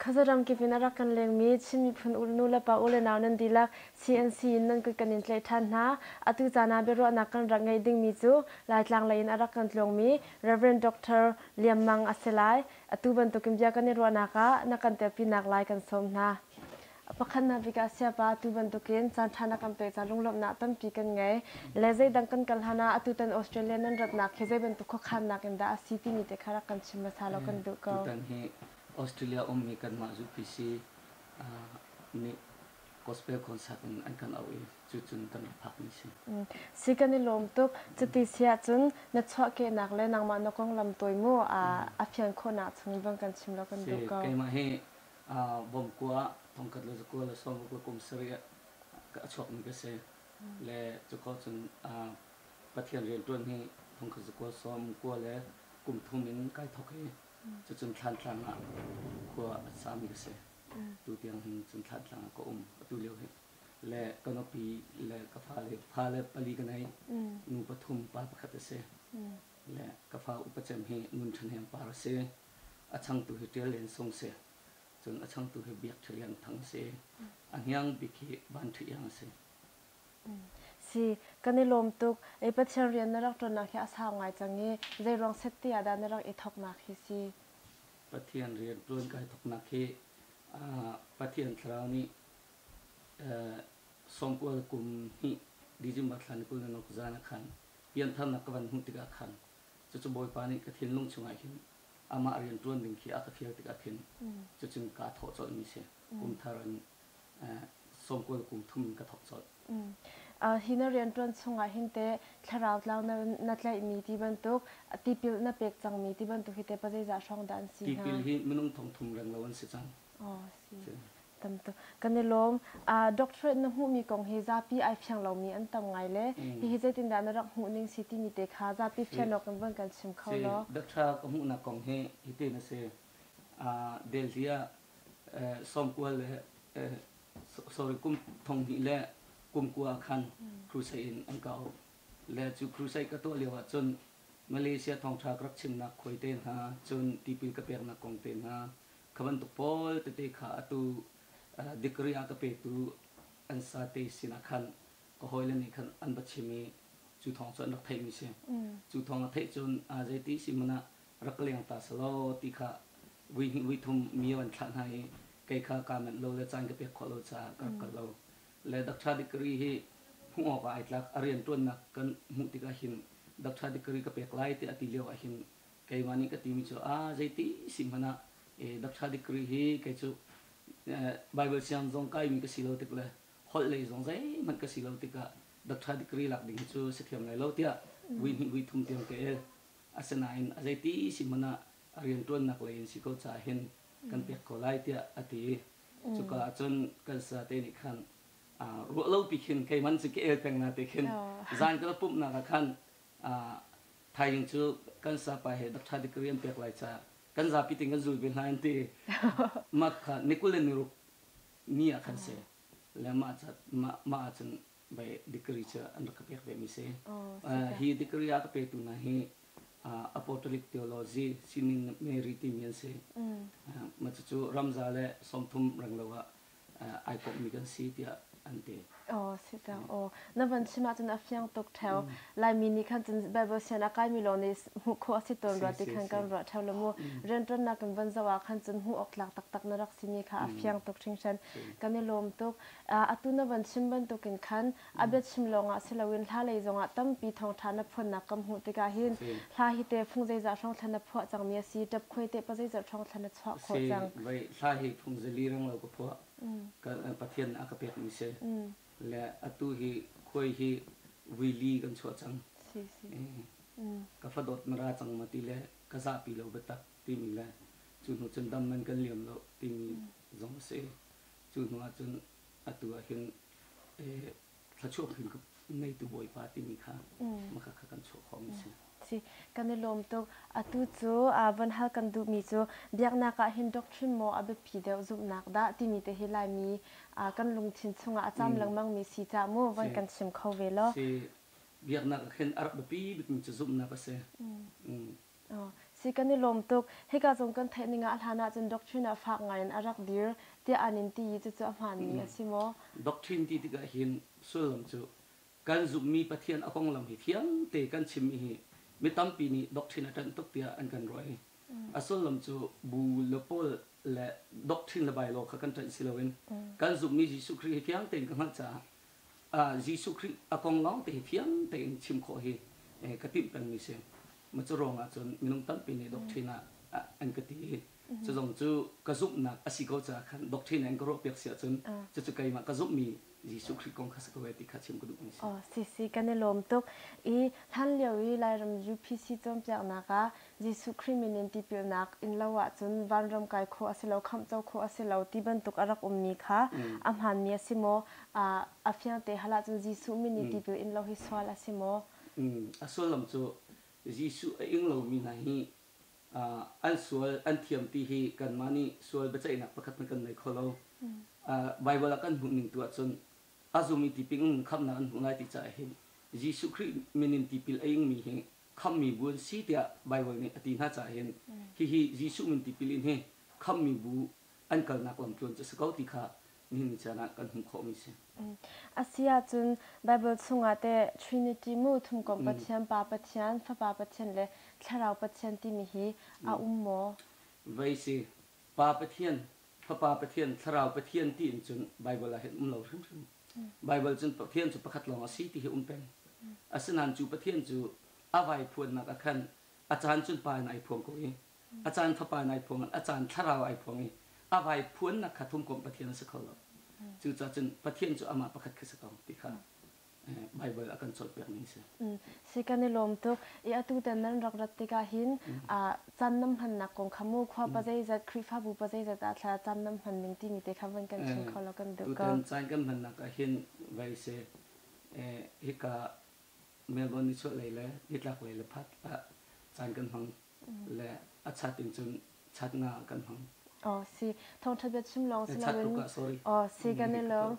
khazaram kivin arak kan lengmi Chin miphun ulnu le pa ule nau nan dilak CNC in nan kut kan in tleh than hna atu cana biaruahnak kan rak ngei dingmi cu Laitlang lei in arak kan tlawngmi Reverend Doctor Liam Mang asilai Atu bantukin bia kan i ruahnak ah na kan ṭialpinak lai kan sawm hna. A pakhatnak bik ah Siapa atu bantukin caanṭha na kan pek caan lunglawmhnak tampi kan ngei. Le zeidang kan kal hlan ah atutan Australia nan ratnak hi zei bantuk khuakhannak in dah a si timi te kha rak kan chim hmasa law kan duh ko. Tutan hi Australia ummi kanmah zupisi nih gospel concert in an kan auh i cucun kan rak phakmi si. Si kan i lawm tuk. Cuti si ahcun na chuahkehnak le nangmah na konglam tawi mu ah a fian khawhnak chung i bang kan chim law kan duh ko. Keimah hi Bawmkua, Thongkatlu zakua le Sawmkua kum sarih ah a chuakmi ka si. Le cuko cun Pathian rianṭuan hi Thongkhat zakua, Sawmkua le kum thum in kai thawk i cucun Thlantlang ah khua a sami ka si. tutiang hin cun thlatlang ah ka um atu lio hi le ka nupi le ka fale fale pali ka nei nu pathum pa pakhat a si le ka fa upa cem hi nun ṭhahnem par a si a changtu hi ṭial len sung si cun a changtu hi biak ṭhi lian thang si a hniang bik hi van ṭhi iang a si si kan i lawm tuk ei pathian rian na rak ṭuannak hi a sau ngai cang i zeiruang set te ah dah na rak i thawknak hi si Pathian rianṭuan kai thawknak hi Pathian Thlarau nih sawmkual kum hnih December thla ni kul ni nok zan ah khan pianthar ka van hmuh tikah khan cucu Bawipa nih ka thinlung chungah hin amah rianṭuan ding khi a ka fial tikah khin cucun kaa thawh colhmi si, kumthar in sawmkual kung thum in ka thok colh. Hi na rianṭuan chungah hin teh thlarau tlau na tlaihmi ti bantuk, tipil na pek cangmi ti bantuk hi teh pa zeizah hrawng dah an si hna? Tipil hi minung thongthum reng lo an si cang. Oh, si. Tam tuk. Kan i lawm. Doctorate na hmuhmi kong hi zapi ai fiang lomi an tam ngai le hihi zeitindah na rak hmuhning si timi te kha zapi fian awk in von kan chim kho law. Doctor ka hmuhnak kong hi hiti na si. Delhi ah sawmkual le sorry kum thonghnih le kum kua ah khan crusade in an kau le cu crusade ka tuah lio ah cun Malaysia thawngṭha ka rak chimnak khawi te hna cun tipil ka peknak kong te hna kha bantuk pawl tete kha atu degree a ka petu an sate sinah khan ka hawile nih khan an va chim i cu thawng cu an rak theihmi si. Cu thawng a theih cun aa zei ti si hmanh ah rak leng ta selaw ti kha vuihnih vuithum mi a van thlah hna i kei kha kaa manh lo le caan ka pek khawh lo caah ka rak kal lo. Le Doctor Degree hi hmuh awkah ai tlak. A rianṭuannak kan hmuh tikah hin Doctor Degree ka pek lai tiah a ti lio ah hin keimah nih ka timi cu aa zeiti si hmanh ah Doctor Degree hi kei cu Baibal siang zong kaimi ka si lo tik le holh lei zong zeihmanh ka si lo tikah Doctor Degree lak ding hi cu si thiam lai lo tiah vuihnih vuithum tiang ka el. Asinain a zeiti si hmanh ah rianṭuannak lei in si ko caah hin kan pek ko lai tiah a ti. Cuka ah cun kan sate nih khan ruah lopi khin keimanh cu ka el peng hna ti khin zan ka rak pumhnak ah khan thaizing cu kan sapa he doctor dik ka rian pek lai caah kan zapi tin kan zul ve hna an ti. Mah kha ni kul le ni ruk ni ah khan si le mah ah cun bei degree cu an rak ka pek ve mi si. Uh, hi degree a ka petu hna hi uh, apostolic theology sining Mary timi an si. Uh, ma cu ramza le sawmthum renglo ah uh, ai kawp mi kan si tiah an ti. Oh, si cang. Oh, na van chim ahcun a fiang tuk theo. Laimi nih khan cun Bible sian a kai mi lawng nih hmuh khawh a si tawn rua ti khan kan ruah theo lo mu. Riantuannak kan van zoh ah khan cun hmuh awk tlak taktak na rak si mi kha a fiang tuk hringhran. Kan i lawm tuk. Atu na van chim bantukin khan a biachim lawngah si loin hla lei zongah tampi thawngṭha na phuannak kan hmuh tikah hin hla hi tehfung zeizah hrangthla na phuah cangmi a si, ṭapkhuai teh pa zeizat hrangthla na chuah khawh cang? Vei hla hi phung zili renglo ka phuah, Pathian nih a ka pekmi si le atu hi khuai hi vuili kan chuah cang, ka fa dawt na ra cang ma ti le ka zahpi lo biatak timi le cu hnu cun dam man kan liam lo timi zong a si. Cu hnu ahcun atu ah hin thluachuah phun ka ngeitu Bawipa timi kha hmaka kha kan chuah khawhmi a si. Si, kan i lawm tuk. Atu cu von hal kan duhmi cu biaknak ah hin doctrine maw a biapi deuh zumhnak dah timi te hi Laimi kan lungthin chungah a cam lengmangmi si caah mu voi kan chim kho ve law. Si, biaknak ah khin a rak biapi bikmi cu zumhnak a si. Si kan i lawm tuk. Hika zong kan theih ning ah hlan ahcun doctrine ah fak ngai in a rak dir tiah an in ti i cucu a hmaanmi a si maw? Doctrine ti tikah hin sullam cu kan zumhmi Pathian a konglam hi thiangte kan chimmi hi mi tampi nih doctrine a ṭanh tuk tiah an kan ruah i a sullam cu bu le pawl le doctrine le by law kha kan ṭanh si loin kan zumhmi Jesuh Khrih hi thiang tein ka hngalh caah Jesuh Khrih a kong lawngte hi fiang tein chim khawh hi ka timh pengmi si. Mah cu ruang ahcun minung tampi nih doctrine ah an ka ti i cu zong cu ka zumhnak a si ko caah khan doctrine an ka ruahpiak si ahcun cucu keimah ka zumhmi Jesuh Khrih kong kha si ko e ti kha chim ka duhmi si. Si si, kan i lawm tuk. Hi hlanlio i Lairam UPC cawnpiaknak ah Jesuh Khrih min in tipilnak in lo ahcun vanram kai khawh a si lo, khamhco khawh a si lo ti bantuk a rak ummi kha a hmaanmi a si maw? A fiang te hal ahcun Jesuh min i tipil in lo hi sual a si maw? A sullam cu Jesuh a ing lomi hna hi an sual an thiam ti hi kanmah nih sual biaceihnak pakhat hmanh kan ngei kho lo. Baibal ah kan hmuhning tu ahcun a zum i tipil in khamhnak an hmuh lai ti caah hin Jesuh Khrih min in tipil a ingmi hi Khamhmi bu an si tiah Baibal nih a ti hna caah hin hihi Jesuh min tipil in hi khamhmi bu an kalnak lamtluan cu a si ko ti kha nihin ni caan ah kan hmuh khawhmi a si. A si ahcun Baibal chungah teh Trinity mu, Thumkomh Pathian, Pa Pathian, Fapa Pathian le Thlarau Pathian timi hi a um maw? Vai si. Pa Pathian, Fapa Pathian, Thlarau Pathian ti in cun Baibal ah hin um lo hrimhrim. Baibal cun Pathian cu pakhat lawng a si ti hi um peng. Asinain cu Pathian cu a vaiphuannak ah khan a caan cun pa in ai phuang ko i a caan fapa in ai phuang in a caan thlarau ai phuang i a vaiphuannak kha thumkomh Pathian a si kho lo. Cucaah cun Pathian cu amah pakhat khi si ko ti kha Baibal a kan cawnpiakmi a si. si kan i lawm tuk i atutan nan rak rat tikah hin caan nan hmannak kong kha mu khua pa zeizat Khrihfabu pa zeizat ah thla cam nan hman ning timi te kha van kan chim kho law kan duh ko. Tutan caan kan hmannak ah hin vai si hika Melbourne nichuah lei le nitlak lei le phat ah caan kan hmang le a chat in cun chat nga kan hmang. Oh si thawngtha bia chim lawng si loin oh si kan i lawng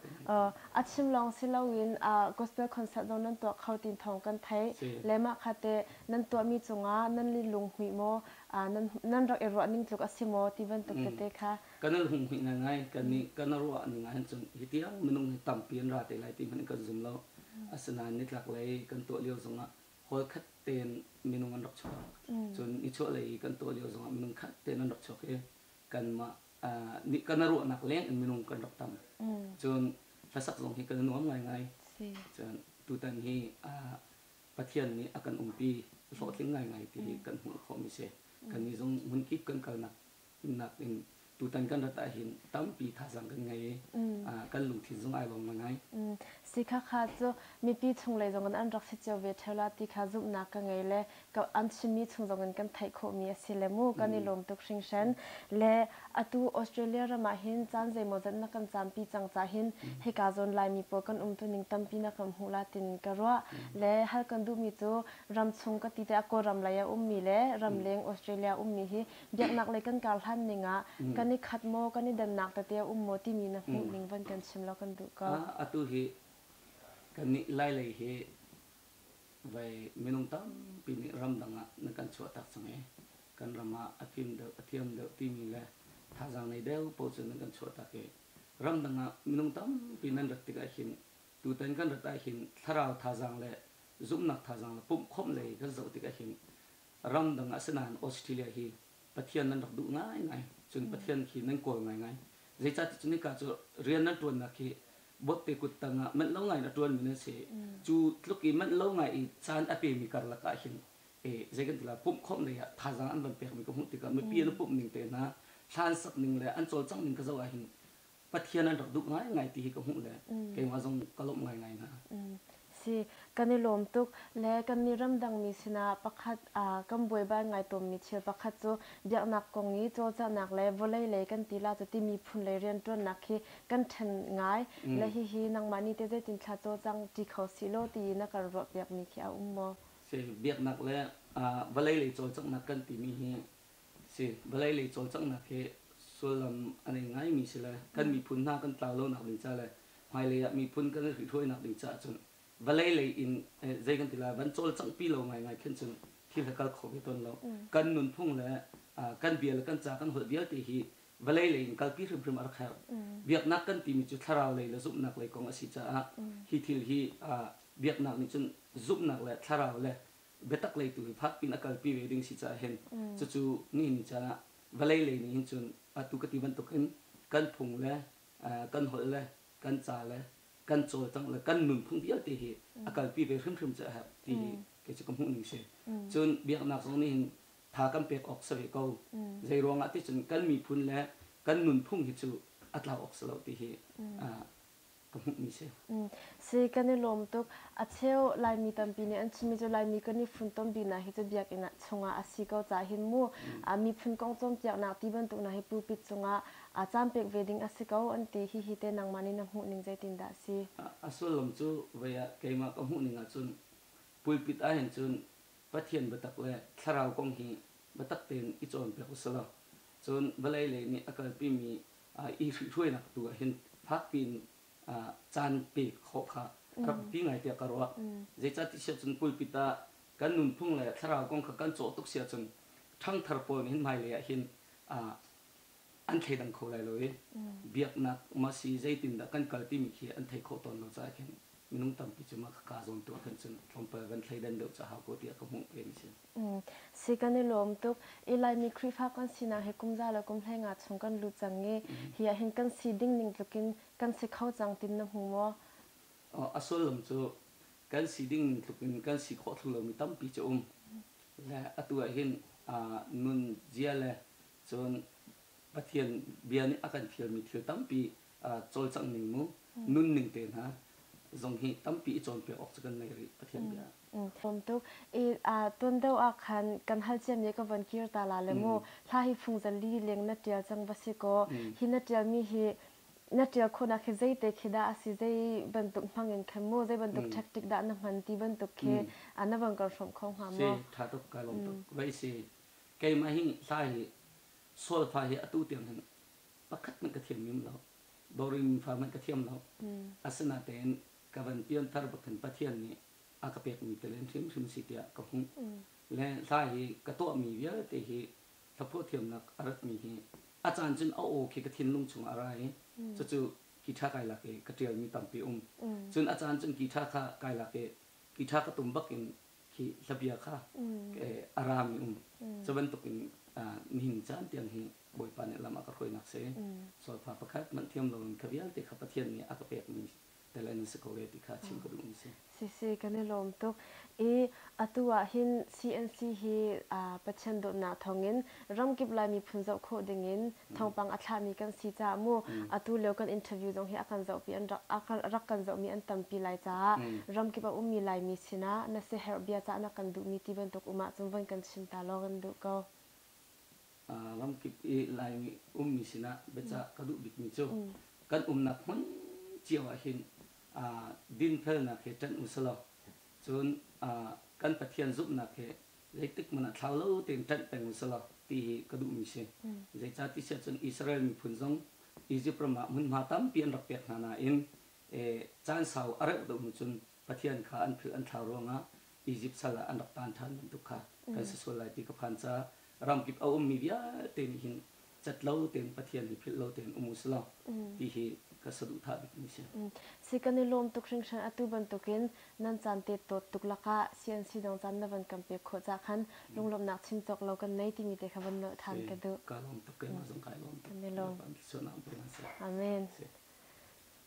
a chim lawng si loin gospel concert dong nan tuah kho tin thawng kan thei le mah kha te nan tuahmi cungah nan li lung hmuih maw nan rak i ruah ning tluk a si maw ti bantuk tete kha kan al hung hmuih ngai kan ni kan ruah ning ah hin cun hi tiang minung ni tampi an ra te lai ti hmanh kan zum lo asinain nitlak lei kan tuah lio zongah hall khat tein minung an rak chuak. Cun nichuahlei i kan tuah lio zongah minung khat tein an rak chuak i kanmah nih kan a ruahnak leng in minung kan rak tam. Cun hlasak zong hi kan i nuam ngaingai. Cun tutan hi Pathian nih a kan umpi hlawhtling ngaingai ti hi kan hmuh khawhmi a si. Kannih zong hmunkip kan kalnak Timhnak in tutan kan rat ahhin tampi thazaang kan ngei i kan lungthin zong ai lawm ngai. Si khakha cu mipi chunglei zongin an rak si cio ve ṭheu la ti kha zumhnak ka ngei le an chimmi chung zongin kan theih khawhmi a si le mu kan i lawm tuk hringhran. Le atu Australia ram ahhin caan zeimawzat na kan caampi cang cahin hika zawn Laimi pawl kan umtuning tampi na kan hmuh la tiin ka ruah. Le hal kan duhmi cu ramchung ka ti teh a Kawlram lei a ummi le ramleng Australia ummi hi biaknaklei kan kar hlan ning ah kan i khat maw, kan i dannak tete a um maw timi na hmuh ning van kan chim law kan duh ko. Atu hi kannih Lailei hi vai minung tampi nih ramdang ah na kan chuahtak cang i kan ram ah a kim deuh a thiam deuh timi le thazaang nei deuh paoh cu nan kan chuahtak i ramdang ah minung tampi nan rat tikah hin tutan kan rat ah hin thlarau thazaang le zumhnak thazaang le pumhkhawmh lei kan zoh tikah hin ramdang ah si nain Australia hi Pathian nan rak duh ngaingai, cun Pathian khi nan kawl ngaingai. Zeicahticun hika cu rian nan ṭuannak hi botte kut tang ah manh lo ngai in a ṭuanmi nan si. Cu tluk i manh lo ngai i caan a pemi karlak ah hin zei kan ti lai, pumh khawmh lei ah thazaang an van pekmi ka hmuh tikah mipi an pumh ning te hna, hlan sak ning le an cawlcangh ning ka zoh ah hin Pathian an rak duh ngaingai ti hi ka hmuh le mm. keimah zong ka lawmh ngaingai hna. Mm. Si, kan i lawm tuk le kannih ramdangmi sinah pakhat aa kan buaibai ngai tawnmi thil pakhat cu biaknak kong i cawlcanghnak le vawlei lei kan tila cu timi phun lei rianṭuannak hi kan ṭhen ngai mm. le hihi nangmah nih teh zeitin thla cawlcang ṭi kho sih law tiin na kan ruahpiakmi khi a um maw? Si, biaknak le vawlei lei cawlcanghnak kan timi hi a si. Vawlei lei cawlcanghnak hi sullam a nei ngaimi si le kan miphun hna kan tlau lonak ding ca le hmailei ah miphun kan i hrihhruainak ding caah cun vawlei lei in eh, zei kan ti lai van cawlcanghpi lo ngaingai khin cun thil hi kal kho ve tawn lo. Kan nunphung le ah, kan bia le kan ca kan holh vialte hi vawlei lei in kalpi hrimhrim a rak herh. Biaknak kan timi cu thlarau lei le zumhnak lei kong a si caah hi thil hi ah, biaknak nih cun zumhnak le thlarau le biatak lei tu in fak in a kalpi ve ding si caah hin cucu nihin caan ah vawlei lei nih hin cun atu ka ti bantuk in kan phung le kan holh le kan ca le kan cawlcangh le kan nunphung vialte hi a kalpi ve hrimhrim cu a herh ti hi kei cu ka hmuh ning si. Cun biaknak zong nih hin tha kan pek awk si ve ko. Zei ruangah ti cun kan miphun le kan nunphung hi cu a tlau awk si lo ti hi ka hmuhmi si. Si kan i lawm tuk. A cheu Laimi tampi nih an chimmi cu Laimi kan i funtom biknak hi cu biakinn ah chungah a si ko ca hin mu. Miphun kong cawnpiaknak ti bantuk hna hi pulpit cungah caan pek ve ding a si ko an ti. Hihi teh nangmah nih na hmuhning zeitindah a si? A sullam cu voi ah keimah ka hmuhning ahcun pulpit ah hin cun Pathian biatak le thlarau kong hi biatak tein i cawnpiak usilaw cun vawlei lei nih a kalpimi i hruainak tu ah hin fakpi in caan pek khawh kha a rak biapi ngai tiah ka ruah. Zeicah ti siah cun pulpit ah kan nunphung le thlarau kong kha kan cawh tuk si ahcun ṭhangthar pawl nih hin hmailei ah hin an thleidang kho lai lo i biaknak masi zeitindah kan kal timi khi an theih khawh tawn lo caah khin Minung tampi cu mah ka kaa zawn tuah khan cun tlawmpal van thleidan deuh ca hau kaw tiah ka hmuh peng a si. Si kan i lawm tuk. I Laimi Khrihfa kan sinak hi kum za le kum hlengah chung kan lut cang i hi ah hin kan si ding ning tlukin kan si kho cang tin na hmu maw? A sullam cu kan si ding ning tlukin kan si khawh thlu lomi tampi cu um. Le atu ah hin nun zia le cun Pathian bia nih a kan fialmi thil tampi cawlcangh ning mu, nunning te hna zong hi tampi i cawnpiak awk cu kan ngei rih Pathian bia ah. Tlawm tuk. I tondoh ah khan kan hal ciami a ka von kir ta la le mu, hla hi fungzali leng na tial cang va si kaw, hi na tialmi hi na tial khawhnak hi zeite khi dah a si, zei bantuk hmang in khin mu, zei bantuk tactic dah na hman ti bantuk khi na von kal hrawmh kho hnga mu. Si, ṭha tuk, kai lawm tuk. Vai si, keimah hi hla hi, sualfa hi atu tiang hin pakhat hmanh ka thiam ngim lo, boring fa hmanh ka thiam lo. Asinatein ka van pianthar bak in Pathian nih a ka pekmi tilen hrimhrim si tiah ka hmuh. Le hla hi ka tuahmi vialte hi hlaphuah thiamnak a ratmi hi a caan cun a aw khi ka thinlung chung a ra i cucu Ki Tha kai lak i ka ṭialmi tampi um. Cun a caan cun Ki Tha kha kai lak i Hi tha ka tum bak in hi hlabia kha a rami um. Cu bantukin nihin caan tiang hi Bawipa nih lam a ka hruainak si. Solfa pakhat manh thiam loin kha vialte kha Pathian nih a ka pekmi tel an si ko e ti kha chim ka duh mi si. Si si, kan i lawm tuk. I atu ah hin CNC hi Pathian dawtnak thawngin ramkip Lai miphun zoh khawh dingin thawngpang a thlahmi kan si caah mu atu lio kan interview zong hi a kan zohpi an rak kan zohmi an tampi Lai caah ramkip a ummi Laimi sinah na siaherh bia cah na kan duhmi ti bantuk um ahcun von kan chim ta lawng in duh ko. Ramkip i Laimi ummi sinah biacah ka duh bikmi cu kan umnak hmun cio ahhin dinfelnak hi ṭanh usalaw cun kan Pathian zumhnak hi Zeitik hmanh ah thlau lo tein ṭanh peng usih ti hi ka duhmi si. Zeicahtiah cun Israel miphun zong Izipt ram ah hmunhma tampi an rak pek hna nain caan sau a reuh deuh hnu cun Pathian kha an philh an thlau ruangah Izipt sal ah an rak tan ṭhan bantuk kha kan si sual lai ti ka phan caah ram kip a ummi vialte nih hin cat lo tein Pathian i philh lo tein um u sih law ti hi ka saduhthah bikmi si. Si kan i lawm tuk hringhran. Atu bantukin nan caan tettawt tuk lakah CNC dang caan na van kan pek khawh cah khan lunglawmhnak chim cawk lo kan nei timi te kha van nolh than ka duh. Ka lawm tuk, keimah zong kai lawm tuk. Kan i lawm. Sualnak um ko hmanh seh. Amen.